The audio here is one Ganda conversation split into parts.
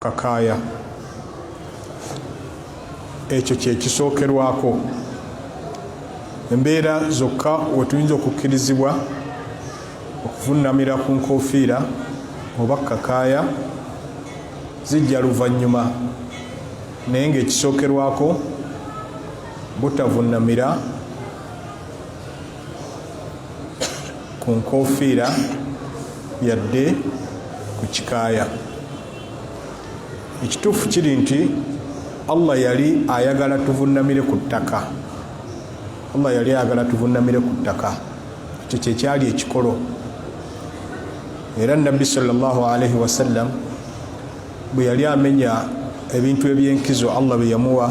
Kakaaya. Ekyo kye kisookerwako. Embeera zokka we tuyinza okukkirizibwa okuvunnamira ku nkofiira oba kakaaya zijja luvannyuma naye ng'ekisookerwako butavunnamira ku nkofiira yadde ku kikaaya ekituufu kiri nti allah yali ayagala tuvunnamire ku ttaka allah yali ayagala tuvunnamire ku ttaka ekyo kyekyali ekikolo era nabbi salllahalaihi wasallam bwe yali amenya ebintu ebyenkizo allah bye yamuwa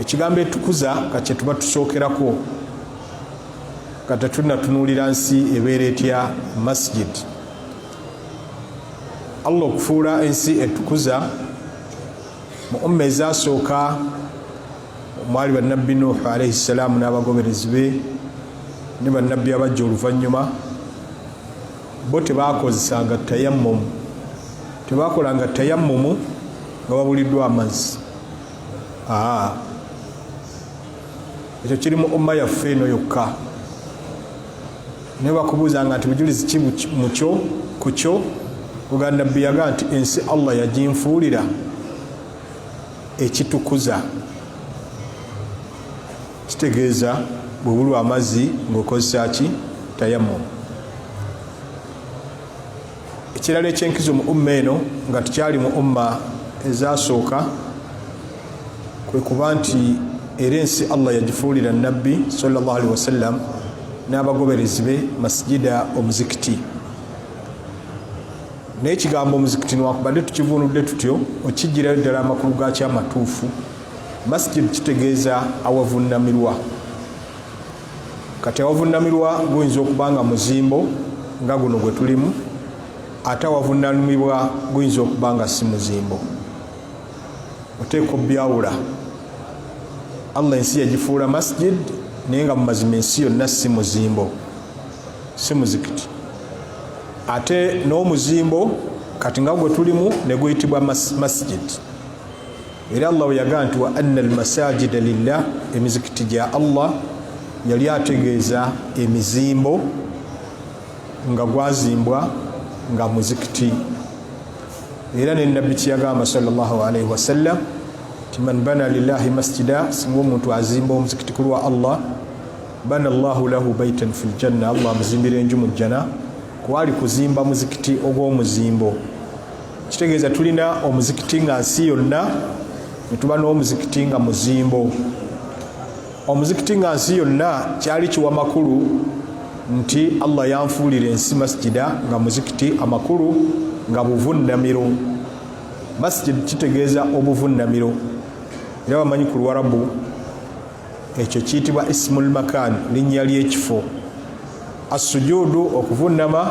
ekigambo etukuza ka kyetuba tusookerako nga tetunatunuulira nsi ebeera etya masjid allah okufuula ensi etukuza mu umma ezasooka omwali bannabbi nuuhu alaihi ssalaamu n'abagoberezi be ne bannabbi abajja oluvannyuma bo tebakozesanga tayammumu tebakolanga tayammumu nga babuliddwa amazzi ekyo kiri mu umma yaffe eno yokka naye bakubuuzanga nti bujulizi ki mukyo ku kyo oga nabbi yaga nti ensi allah yaginfuulira ekitukuza kitegeeza bwebulwa amazzi ngaokozesa ki tayamumu ekirala ekyenkizo mu umma eno nga tukyali mu umma ezasooka kwe kuba nti era ensi allah yagifuulira nabbi salllah alihi wasallam n'abagoberezi be masijida omuzikiti naye ekigambo omuzikiti nwakubadde tukivunudde tutyo okijjirayo ddala amakulu gakyo amatuufu masijid kitegeeza awavunamirwa kati awavunnamirwa guyinza okuba nga muzimbo nga guno gwe tulimu ate awavunnamirwa guyinza okuba nga si muzimbo oteeka obyawula allah ensi yagifuula masjid naye nga mumazima ensi yonna si muzimbo si muzikiti ate n'omuzimbo kati nga gwe tulimu ne guyitibwa masjid mas era allah weyagaa nti wa anna almasajida lillah emizikiti gya allah yali ategeeza emizimbo nga gwazimbwa nga muzikiti era nenabbi kyeyagamba salllahalaihi wasallam ti man bana lillahi masjida singa omuntu azimba omuzikiti ku lwa allah bana llahu lahu baitan fi ljanna allah amuzimbira enju mu jjana kwali kuzimba muzikiti ogw'omuzimbo kitegeeza tulina omuzikiti nga nsi yonna netuba n'omuzikiti nga muzimbo omuzikiti nga nsi yonna kyali kiwa makulu nti allah yanfuulira ensi masjida nga muzikiti amakulu nga buvunnamiro masjid kitegeeza obuvunnamiro era bamanyi ku lwarabu ekyo kiyitibwa ismul makan linnya ly'ekifo assujuudu okuvunnama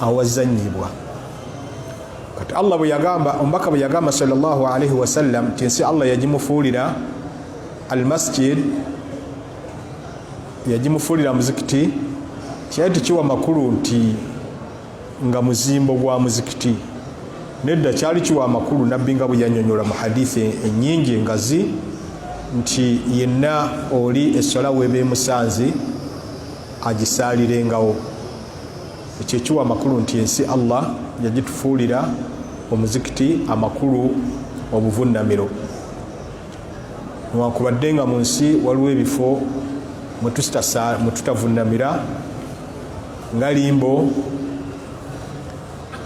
awazanyibwa kati allah bweyagamba omubaka bweyagamba salllahu alaihi wasallam nti ensi allah yagimufuulira almasjid yagimufuulira muzikiti kyali tekiwa makulu nti nga muzimbo gwa muzikiti nedda kyali kiwa amakulu nabbi nga bweyanyonyola mu hadithi enyingi engazi nti yenna oli eswala weba emusanzi agisaalirengawo ekyo ekiwa amakulu nti ensi allah yagitufuulira omuzikiti amakulu obuvunnamiro newankubadde nga mu nsi waliwo ebifo mwetutavunnamira nga limbo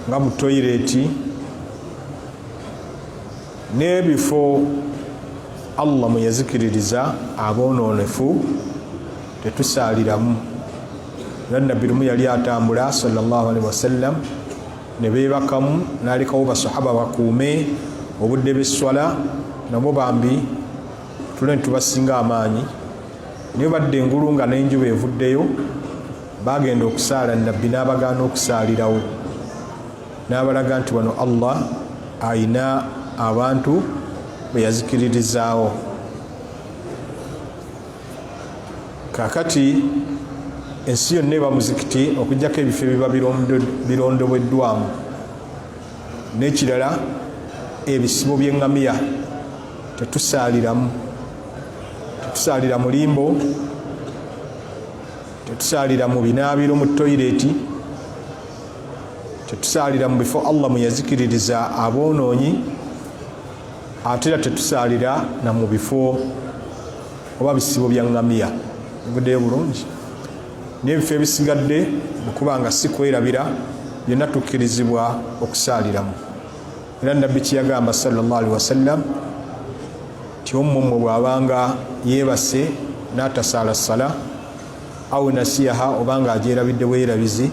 nga mu toyireti n'ebifo allah mweyazikiririza aboonoonefu tetusaaliramu era nabbi lumu yali atambula salllah alihi wasallam ne beebakamu nalekawo basahaba bakuume obudde besswala nabo bambi tule nitubasinga amaanyi naye badde engulu nga nenjuba evuddeyo bagenda okusaala nabbi n'abagaana okusaalirawo n'abalaga nti wano allah ayina abantu beyazikiririzaawo kakati ensi yonna eba muzikiti okujjako ebifo ebiba birondobweddwamu n'ekirala ebisibo by'eŋŋamiya tetusaaliramu tetusaalira mu limbo tetusaalira mu binaabiro mu toyireeti tetusaalira mu bifo allah mwe yazikiririza aboonoonyi ate era tetusaalira na mu bifo oba bisibo bya ngamiya bivudeyo bulungi n'ebifo ebisigadde okuba nga si kwerabira byonna tukkirizibwa okusaaliramu era nabbi kyeyagamba salllah alihi wasallam ti ommumwe bw'abanga yeebase n'atasaala sala au nasiyaha oba nga agyerabidde bweyerabizi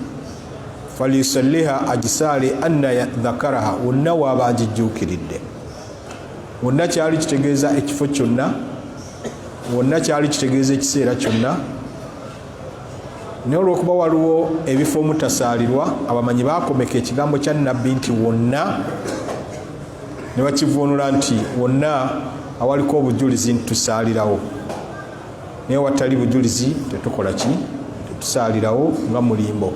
falyusalliha agisaale anna dhakaraha wonna waaba agijjuukiridde wonna kyali kitegeeza ekifo kyonna wonna kyali kitegeeza ekiseera kyonna naye olwokuba waliwo ebifo omutasaalirwa abamanyi bakomeka ekigambo kya nabbi nti wonna ne bakivuunula nti wonna awaliko obujulizi nti tusaalirawo naye watali bujulizi tetukola ki tetusaalirawo nga mulimbo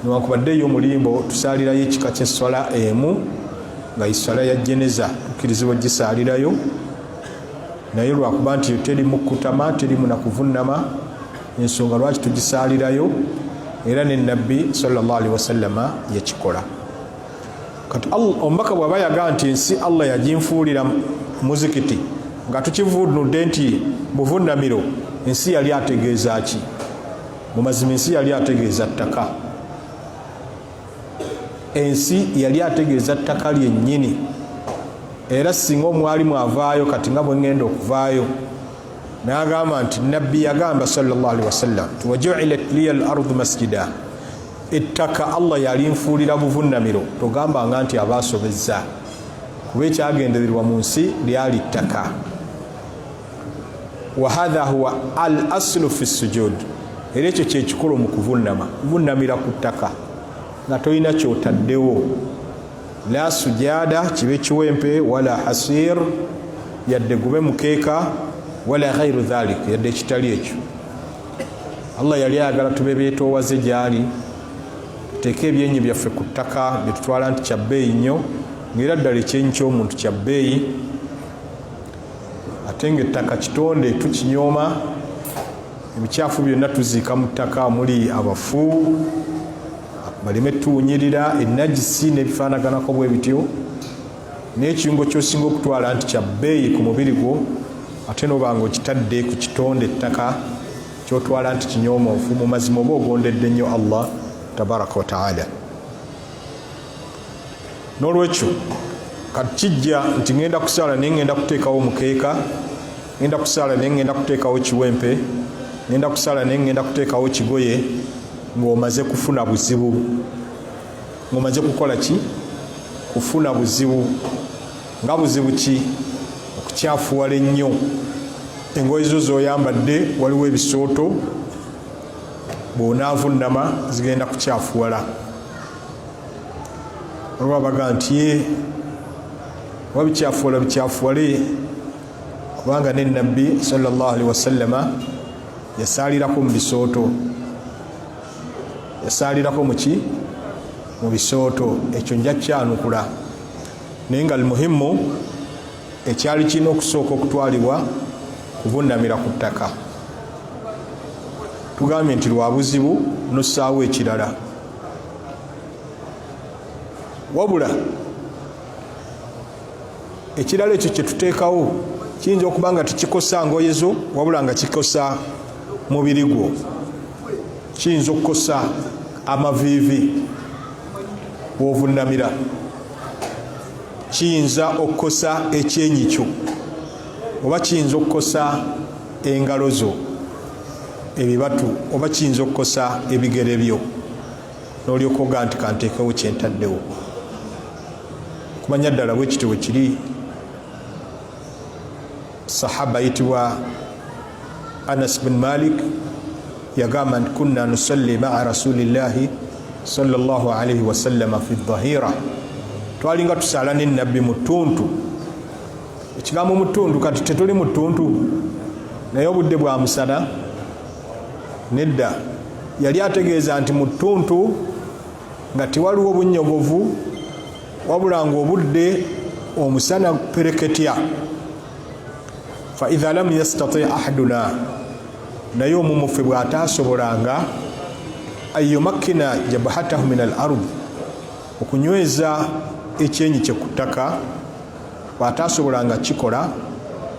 newankubadde eyo mulimbo tusaalirayo ekika kyesswala emu nga iswala ya jeneza tukirizibwa gisaalirayo naye lwakuba nti teri mukutama teri munakuvunnama ensonga lwaki tugisaalirayo era ne nabbi salllahalihi wasallama yakikola kati omubaka bwaba yaga nti ensi allah yaginfuulira muzikiti nga tukivunudde nti buvunamiro ensi yali ategeeza ki mumazima ensi yali ategeeza ttaka ensi yali ategeeza ttaka lyennyini era singa omwali mwavaayo kati nga bwengenda okuvaayo nagamba nti nabbi yagamba salllahalihi wasallam tiwajuilat liya lardu masjida ettaka allah yalinfuulira buvunnamiro togambanga nti aba asobezza kuba ekyagendererwa mu nsi lyali ttaka wahadha huwa al aslu fi sujud era ekyo kyekikolo mu kuvunnama kuvunnamira ku ttaka nga tolina kyotaddewo la sujada kibe kiwempe wala hasir yadde gube mukeeka wala ghairu dhalik yadde ekitali ekyo allah yali ayagala tube beetoowaze gyali tuteeke ebyenyi byaffe ku ttaka byetutwala nti kya bbeeyi nnyo ngaera ddala ekyenyi ky'omuntu kya bbeeyi ate nga ettaka kitonde tukinyooma ebikyafu byonna tuziika mu ttaka omuli abafu baleme tuwunyirira enagisi n'ebifaanaganako bwe bityo naye ekirungo kyosinga okutwala nti kya bbeeyi ku mubiri gwo ate noba nga okitadde ku kitonde ettaka kyotwala nti kinyoomonfu mu mazima oba ogondedde nnyo allah tabaraka wataala n'olwekyo kati kijja nti ŋenda kusaala naye ŋenda kuteekawo omukeeka ŋenda kusaala naye ŋenda kuteekawo kiwempe ŋenda kusaala naye ŋenda kuteekawo kigoye ng'omaze kufuna buzibu ngomaze kukola ki kufuna buzibu nga buzibu ki okukyafuwala ennyo engoye zo zoyambadde waliwo ebisooto bwonaavunama zigenda kukyafuwala olwa baga nti ye oba bikyafuwala bikyafuwale kubanga ne nabbi sallallahu alaihi wasallama yasaalirako mu bisooto yasaalirako muki mu bisooto ekyo nja kyanukula naye nga lmuhimu ekyali kirina okusooka okutwalibwa kubunamira ku ttaka tugambye nti lwa buzibu nossaawo ekirala wabula ekirala ekyo kyetuteekawo kiyinza okuba nga tekikosa ngoye zo wabula nga kikosa mubiri gwo kiyinza okukosa amaviivi wovunamira kiyinza okukosa ekyenyi kyo oba kiyinza okukosa engalo zo ebibatu oba kiyinza okukosa ebigere byo n'olyoka oga nti kanteekewo kyentaddewo kumanya ddala bwe kityo bwe kiri sahaba ayitibwa anas bin malik yagamba nti kunna nusalli maa rasulillahi salllah alaihi wasallama fi dhahira twalinga tusaala ne nabbi mu ttuntu ekigambo mu ttuntu kati tetuli mu ttuntu naye obudde bwa musana Nedda, yali ategeeza nti mu ttuntu nga tewaliwo bunnyogovu wabula ng'obudde omusana pereketya faidha lam yastati ahaduna naye omumuffe bw'ataasobolanga ayomakkina jabhatahu min al ardi okunyweza ekyenyi kye ku ttaka bw'ataasobolanga kukikola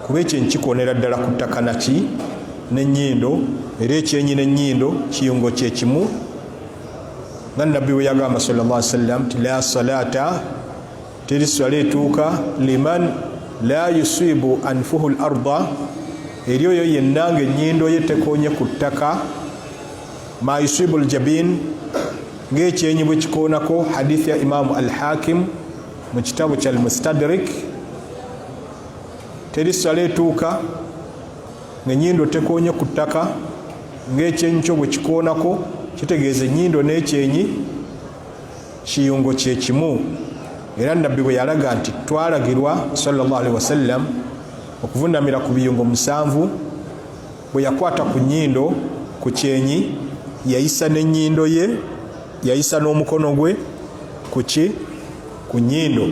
kuba ekyo nkikoonera ddala ku ttaka naki n'ennyindo era ekyenyi n'ennyindo kiyungo kye kimu nga nabbi bwe yagamba sal llah sallam nti la salaata teri swala etuuka liman la yusibu anfuhu l arda eri oyo yenna nga ennyindo ye tekoonye ku ttaka ma yusibu ljabin ng'ekyenyi bwe kikoonako hadithi ya imaamu al hakimu mu kitabu kya almustadrik teri sala etuuka ngenyindo tekonye ku ttaka ngaekyenyi kyo bwekikoonako kitegeeza enyindo n'ekyenyi kiyungo kyekimu era nabbi bwe yalaga nti twalagirwa salli wasallam okuvunamira ku biyungo musanvu bwe yakwata ku nnyindo ku kyenyi yayisa n'ennyindo ye yayisa n'omukono gwe ku ki ku nnyindo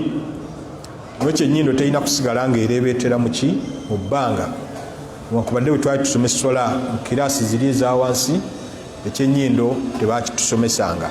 nokyo ennyindo terina kusigala nga ereebeetera mu ki mu bbanga wankubadde bwe twali tusoma essola mu kiraasi ziri eza wansi ekyenyindo tebaakitusomesanga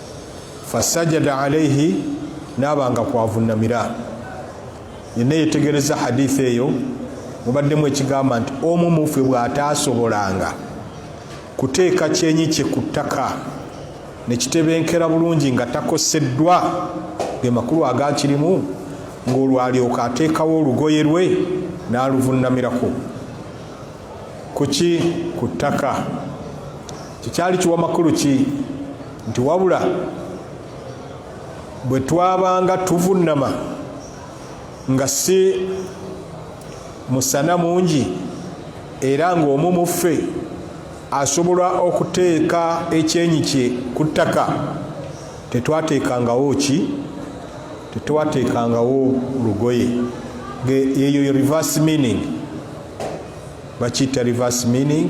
fasajada alaihi naaba nga kwavunamira yenna yetegereza haditha eyo mubaddemu ekigamba nti omu muffe bw'ataasobolanga kuteeka kyenyi kye ku ttaka nekitebenkera bulungi nga takoseddwa ge makulu agakirimu ng'olwalyoka ateekawo olugoye lwe n'aluvunamirako kuki ku ttaka Kyekyali kiwa makulu ki nti wabula bwe twabanga tuvunnama nga si musana mungi era ng'omu mu ffe asobola okuteeka ekyenyi kye ku ttaka tetwateekangawo ki tetwateekangawo lugoye eyo reverse meaning bakiyita reverse meaning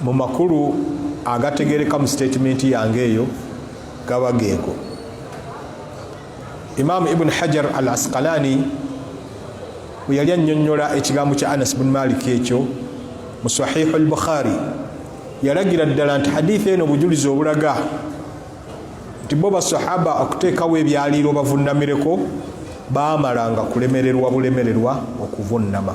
Mu makulu agategereka mu sitetimenti yange eyo gaba geego. Imaamu Ibn Hajar al Asqalani bwe yali annyonnyola ekigambo kya Anas bin Malik ekyo mu Sahihu al Bukhari yalagira ddala nti hadithi eno obujulizi obulaga nti bo basahaba okuteekawo ebyaliiro bavunnamireko baamalanga kulemererwa bulemererwa okuvunnama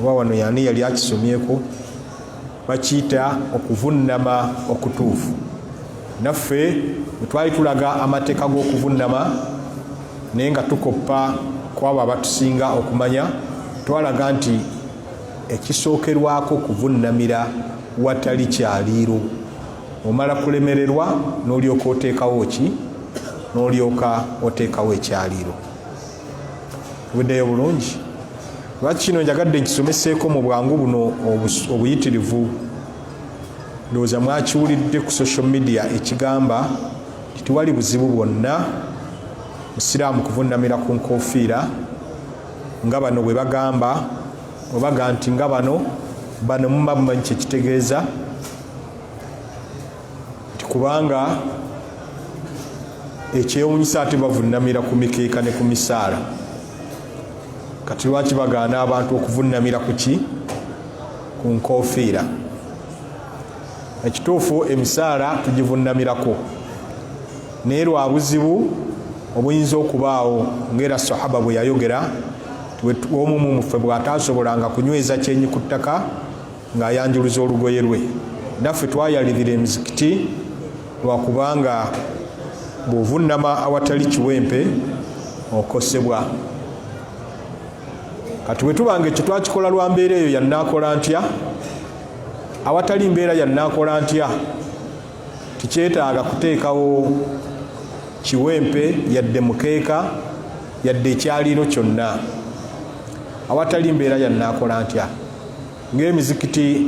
oba wano yani yali akisomyeko bakiyita okuvunnama okutuufu naffe wetwali tulaga amateeka g'okuvunnama naye nga tukoppa kwabo abatusinga okumanya twalaga nti ekisookerwako kuvunnamira watali kyaliiro omala kulemererwa n'olyoka oteekawo ki n'olyoka oteekawo ekyaliiro weddeyo bulungi lwaki kino njagadde nkisomeseeko mu bwangu buno obuyitirivu ndowooza mwakiwulidde ku social media ekigamba titewali buzibu bwonna musiraamu kuvunnamira ku nkofiira nga bano bwe bagamba obaga nti nga bano bano muba mumanyi kyekitegeeza nti kubanga ekyewunyisa ate bavunamira ku mikeeka ne ku misaala kati lwaki bagaana abantu okuvunamira ku ki ku nkofiira ekituufu emisaala tugivunamirako naye lwa buzibu obuyinza okubaawo ngaera sahaba bwe yayogera omumu muffe bw'ataasobolanga kunyweza kyenyi ku ttaka ng'ayanjuluza olugoye lwe naffe twayalirira emizikiti lwakubanga bw'ovunnama awatali kiwempe okosebwa kati bwe tuba nga ekyo twakikola lwa mbeera eyo yannaakola ntya awatali mbeera yannaakola ntya tikyetaaga kuteekawo kiwempe yadde mukeeka yadde ekyaliiro kyonna awatali mbeera yannaakola ntya ng'emizikiti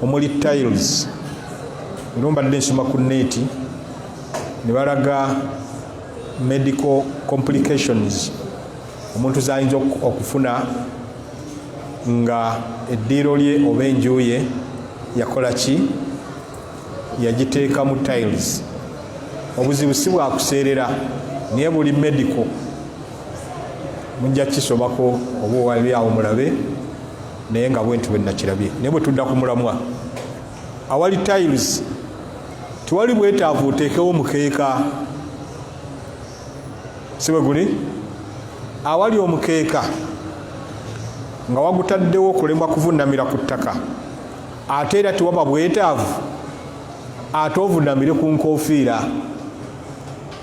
omuli tiles ero mbadde nsoma ku neeti ne balaga medical complications omuntu zayinza okufuna nga eddiiro lye oba enjuye yakola ki yagiteekamu tiles obuzibu si bwakuseerera naye buli medical mujja kisomako oba owali awo mulabe naye nga bwentu bwenakirabye naye bwetudda ku mulamwa awali tiles tewali bwetaavu oteekewo omukeeka siwe guli awali omukeeka nga wagutaddewo okulemwa kuvunamira ku ttaka ate era tewaba bwetaavu ate ovunamire ku nkofiira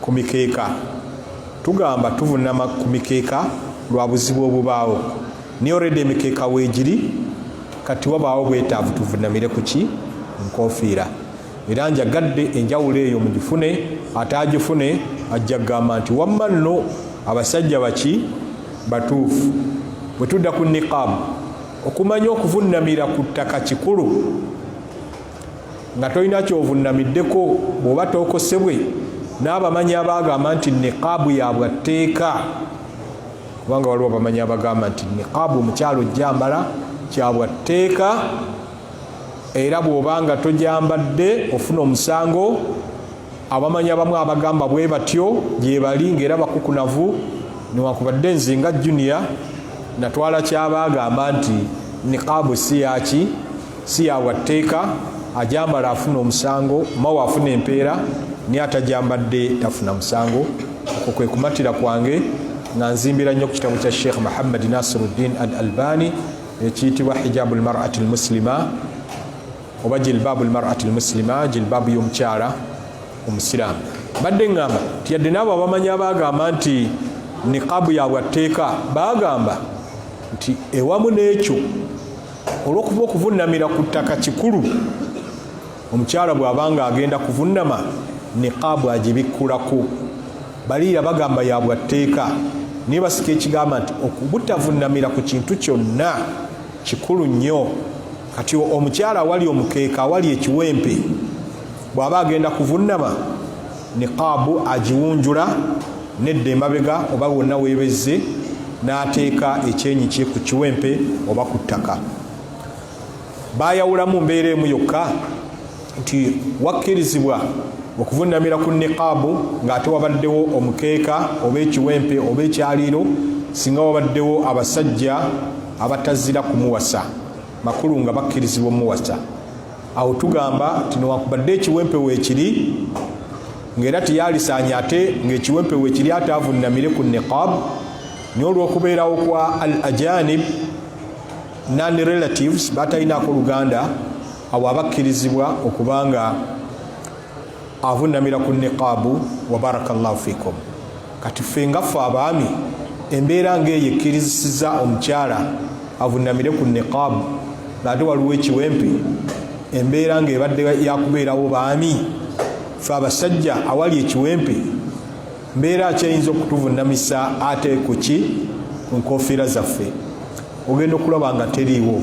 Ku mikeeka, Tugamba tuvunama ku mikeeka lwa buzibu obubaawo naye already emikeeka weegiri kati wabaawo bwetaavu tuvunamire ku ki nkofiira era njagadde enjawulo eyo mugifune ataagifune ajja kugamba nti wamma nno abasajja baki batuufu bwe tudda ku niqaabu okumanya okuvunnamira ku ttaka kikulu nga tolina kyovunnamiddeko bw'oba tookosebwe n'abamanyi abaagamba nti niqaabu yabwa tteeka kubanga waliwo abamanyi abagamba nti niqaabu omukyalo ojjambala kyabwa tteeka era bw'oba nga tojambadde ofuna omusango abamanyi abamu abagamba bwe batyo gyebali ng'era bakukunavu newankubadde nze nga junior natwala kyabaagamba nti niqaabu si yaki si yabwa tteeka ajambala afuna omusango mawe afuna empeera naye atajambadde tafuna musango okwo kwe kumatira kwange nga nzimbira nnyo ku kitabo kya sheikh muhammad nasiruddin al albani ekiyitibwa hijabu lmarati lmuslima oba jilbaabu lmarati lmuslima jilbaabu y'omukyala omusiraamu badde ŋŋamba nti yadde naabo abamanyi abaagamba nti niqaabu yabwa tteeka baagamba nti ewamu n'ekyo olwokuba okuvunamira ku ttaka kikulu omukyala bwabanga agenda kuvunama niqaabu agibikkulako baliira bagamba yabwa tteeka naye basika ekigamba nti okubutavunamira ku kintu kyonna kikulu nnyo kati omukyala awali omukeeka awali ekiwempe bwaba agenda kuvunama niqaabu agiwunjula nedda emabega oba wonna weebezze n'ateeka ekyenyi kye ku kiwempe oba ku ttaka baayawulamu mbeera emu yokka nti wakkirizibwa okuvunnamira ku niqaabu ng'ate wabaddewo omukeeka oba ekiwempe oba ekyaliiro singa wabaddewo abasajja abatazira kumuwasa makulu nga bakkirizibwa omuwasa awo tugamba nti newakubadde ekiwempe weekiri ng'era teyalisaanya ate ng'ekiwempe weekiri ate avunnamire ku niqab naye olw'okubeerawo kwa al ajanib non relatives batalinaako oluganda awo abakkirizibwa okubanga avunnamira ku niqaabu wa baraka llahu fikum kati ffe ngaffe abaami embeera ngaeyo ekkirizisiza omukyala avunnamire ku niqaabu ngaate waliwo ekiwempe embeera ngaebadde yakubeerawo baami fe abasajja awali ekiwempe mbeera akyayinza okutuvunnamisa ate ku ki ku nkofiira zaffe ogenda okulaba nga teriiwo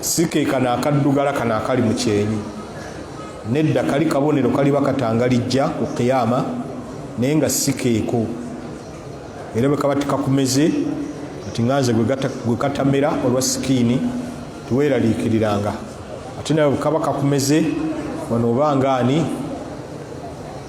si ke kano akaddugala kano akali mu kyenyi nedda kali kabonero kaliba katangalijja ku kiyama naye nga si keeko era bwe kaba tikakumeze kati nga nze gwe katamera olwa sikiini tiweeraliikiriranga ate nawe bwe kaba kakumeze wano oba ngaani